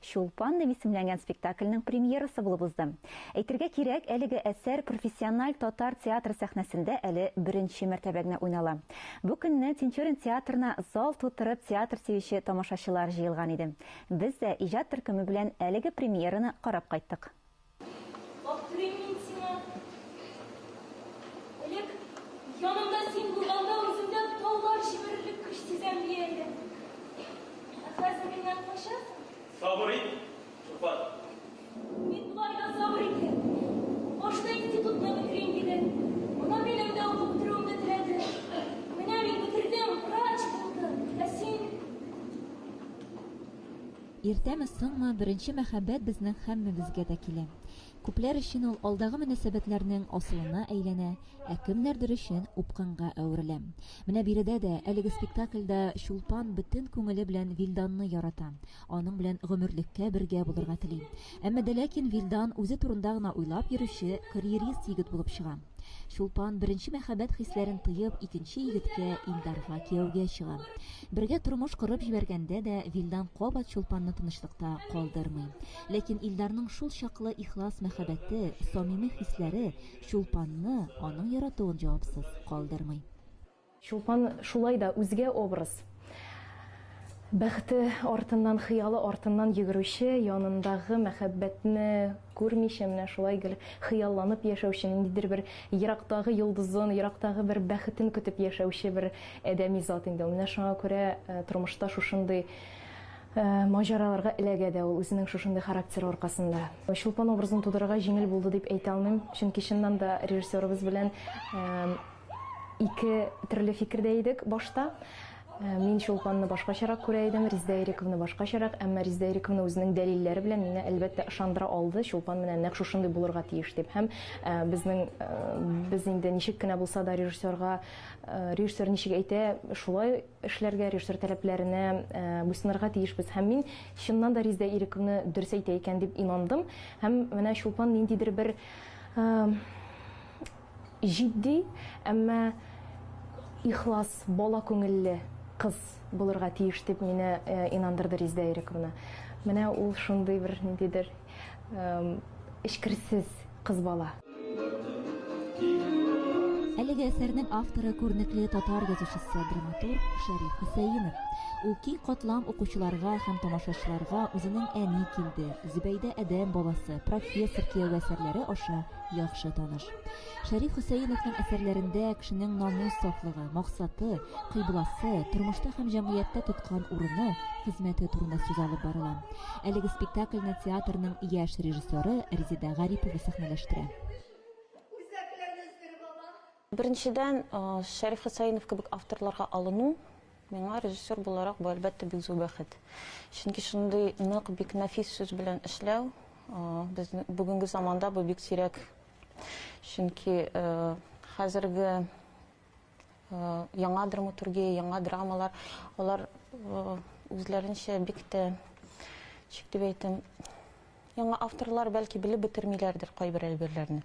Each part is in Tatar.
Чулпан дип исемләнгән спектакльнең премьерасы булып узды. Әйтергә кирәк, әлеге әсәр профессиональ татар театры сәхнәсендә әле беренче мәртәбә генә уйнала. Бу көнне Тинчурин театрына зал тутырып театр сөюче тамашачылар җыелган иде. Без дә иҗат төркеме белән әлеге премьераны карап кайттык. Баптырыйм мин сиңа. Элек янымда син булганда үземдә таулар җимерерлек көч сизәм дия идем. Ә хәзер миннән качасың? Сабыр ит, Чулпан. Мин болай да сабыр итәм. Башта институтны бетерим диде. Моннан минем дә укып бетерүемне теләде. Менә мин бетердем, врач булдым. Ә син... Иртәме, соңмы, беренче мәхәббәт безнең һәммәбезгә дә килә. Күпләр өчен ул алдагы мөнәсәбәтләрнең асылына әйләнә, ә кемнәрдер өчен упкынга әверелә. Менә биредә дә, әлеге спектакльдә Чулпан бөтен күңеле белән Вилданны ярата, аның белән гомерлеккә бергә булырга тели. Әмма дә ләкин Вилдан үзе турында гына уйлап йөрүче карьерист егет булып чыга. Чулпан беренче мәхәббәт хисләрен тыеп, икенче егеткә Илдарга кияүгә чыга. Бергә тормыш корып җибәргәндә дә Вилдан кабат Чулпанны тынычлыкта калдырмый. Ләкин Илдарның шул чаклы ихлас мәхәббәте, самими хисләре Чулпанны, аның яратуын җавапсыз калдырмый. Чулпан шулай да үзгә образ. Бәхете артыннан, хыялы артыннан йөгерүче, янындагы мәхәббәтне күрмичә менә шулай гел хыялланып яшәүче, ниндидер бер ерактагы йолдызын, ерактагы бер бәхетен көтеп яшәүче бер адәми зат инде ул. Менә шуңа күрә тормышта шушындый маҗараларга эләгә дә ул, үзенең шушындый характеры аркасында. Чулпан образын тудырырга җиңел булды дип әйтә алмыйм, чөнки чыннан да режиссерыбыз белән Ике төрле фикердә идек башта. Мин Чулпанны башкачарак күрә идем, Резидә Ирековны башкачарак, әмма Резидә Ирековна үзенең дәлилләре белән мине, әлбәттә, ышандыра алды, Чулпан менә нәкъ шушындый булырга тиеш дип. Һәм безнең, без инде ничек кенә булса да режиссерга, режиссер ничек әйтә, шулай эшләргә, режиссер таләпләренә буйсынырга тиешбез. Һәм мин, чыннан да, Резидә Ирековна дөрес әйтә икән дип инандым. Һәм менә Чулпан ниндидер бер Җитди, әмма ихлас, бала күңелле кыз булырга тиеш, дип мине инандырды Резидә Ирековна. Менә ул шундый бер ниндидер эчкерсез кыз бала. Әлеге әсәрнең авторы күренекле татар язучысы, драматург Шәриф Хөсәенов. Ул киң катлам укучыларга һәм тамашачыларга үзенең Әни килде, Зөбәйдә адәм баласы, Профессор кияве әсәрләре аша яхшы таныш. Шәриф Хөсәеновның әсәрләрендә кешенең намус сафлыгы, максаты, кыйбласы, тормышта һәм җәмгыятьтә тоткан урыны, хезмәте турында сүз алып барыла. Әлеге спектакльне театрның яшь режиссеры Резида Гарипова сәхнәләштерә. Беренчедән, Шәриф Хөсәенов кебек авторларга алыну, миңа режиссер буларак бу, әлбәттә, бик зур бәхет. Чөнки шундый нык, бик нәфис сүз белән эшләү, безнең бүгенге заманда бу бик сирәк. Чөнки хәзерге яңа драматургия, яңа драмалар, алар үзләренчә бик тә, ничек дип әйтим, яңа авторлар, бәлки, белеп бетермиләрдер кайбер әйберләрне.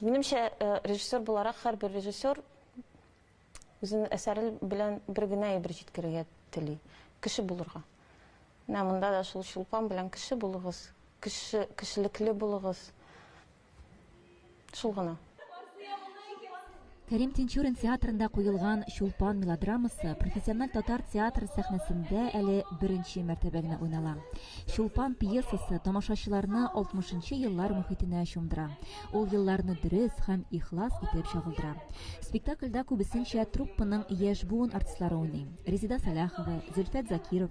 Минемчә, режиссер буларак һәрбер режиссер үзенең әсәре белән бер генә әйбер җиткерергә тели, кеше булырга. Менә монда да шул Чулпан белән кеше булыгыз, кеше, кешелекле булыгыз. Шул гына. Кәрим Тинчурин театрында куелган Чулпан мелодрамасы профессиональ татар театры сәхнәсендә әле беренче мәртәбә генә уйнала. Чулпан пьесасы тамашачыларны 60-нчы еллар мөхитенә чумдыра. Ул елларны дөрес һәм ихлас итеп чагылдыра. Спектакльдә күбесенчә труппаның яшь буын артистлары уйный. Резеда Саляхова, Зөлфәт Закиров,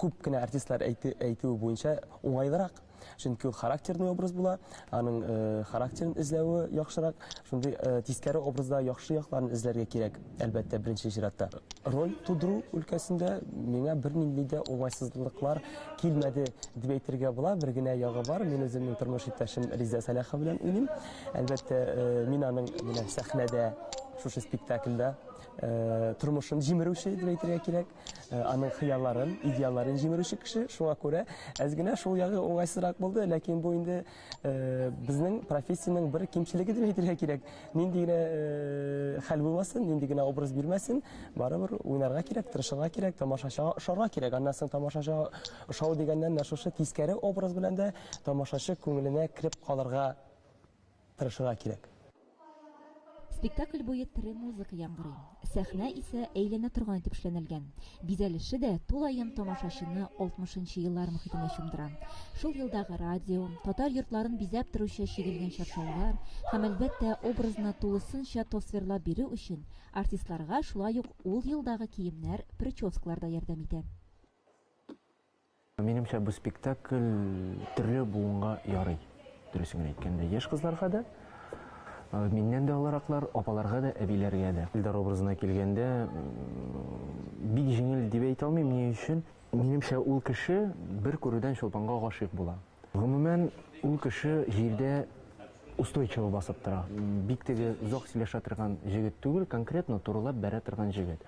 күп кенә артистлар әйтүе буенча уңайлырак чөнки ул характерный образ була аның э, характерын эзләве яхшырак шундый э, тискәре образда яхшы якларын эзләргә кирәк әлбәттә беренче чиратта роль тудыру өлкәсендә миңа бернинди дә уңайсызлыклар килмәде дип әйтергә була бер генә ягы бар мин үземнең тормыш иптәшем риза сәләхов белән уйныйм әлбәттә э, мин аның менә сәхнәдә шушы спектакльдә тормышын җимерүче дип әйтергә кирәк Аның хыялларын, идеалларын җимерүче кеше, шуңа күрә әз генә шул ягы уңайсызрак булды, ләкин бу инде безнең профессиянең бер кимчелеге дип әйтергә кирәк. Нинди генә хәл булмасын, нинди генә образ бирмәсен, барыбер уйнарга кирәк, тырышырга кирәк, тамашачыга ошарга кирәк. Аннан соң тамашачыга ошау дигәннән менә шушы тискәре образ белән дә тамашачы күңеленә кереп калырга тырышырга кирәк. Спектакль буе тере музыка яңгырый, сәхнә исә әйләнә торган итеп эшләнелгән. Бизәлеше дә тулаем тамашачыны алтмышынчы еллар мохитенә чумдыра. Шул елдагы радио, татар йортларын бизәп торучы чигелгән чаршаулар һәм, әлбәттә, образны тулысынча тасвирлап бирү өчен артистларга шулай ук ул елдагы киемнәр, прическалар да ярдәм итә. Минемчә, бу спектакль төрле буынга ярый. Дөресен генә әйткәндә, яшь кызларга да, миннән дә олыраклар, апаларга да, әбиләргә дә. Илдар образына килгәндә, бик җиңел дип әйтә алмыйм. Ни өчен? Минемчә, ул кеше бер күрүдән Чулпанга гашыйк була. Гомумән, ул кеше җирдә устойчиво басып тора. Бик теге озак сөйләшә торган җегет түгел, конкретно турылап бәрә торган җегет.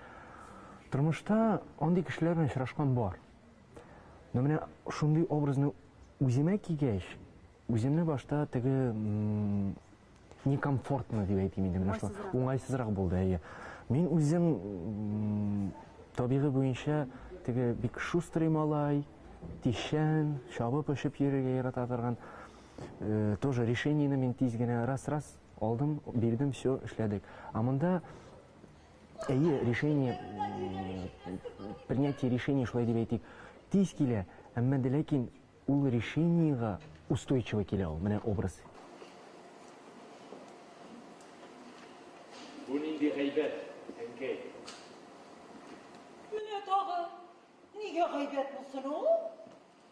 Тормышта андый кешеләр белән очрашкан бар. Но менә шундый образны үземә кигәч, үземне башта теге некомфортно дип әйтим инде менә шул. Уңайсызрак булды, әйе. Мин үзем табигы буенча теге бик шустрый малай, тишән, чабып очып йөрергә ярата торган. Э, тоже решениене мин тиз генә раз-раз алдым, бирдем, все, эшләдек. А монда Әйе, решение, принятие решения шулай дип әйтик, тиз килә, әмма дә ләкин ул решениега устойчиво килә ул, менә образ. Бу нинди гайбәт, әнкәй? Менә тагы, нигә гайбәт булсын ул?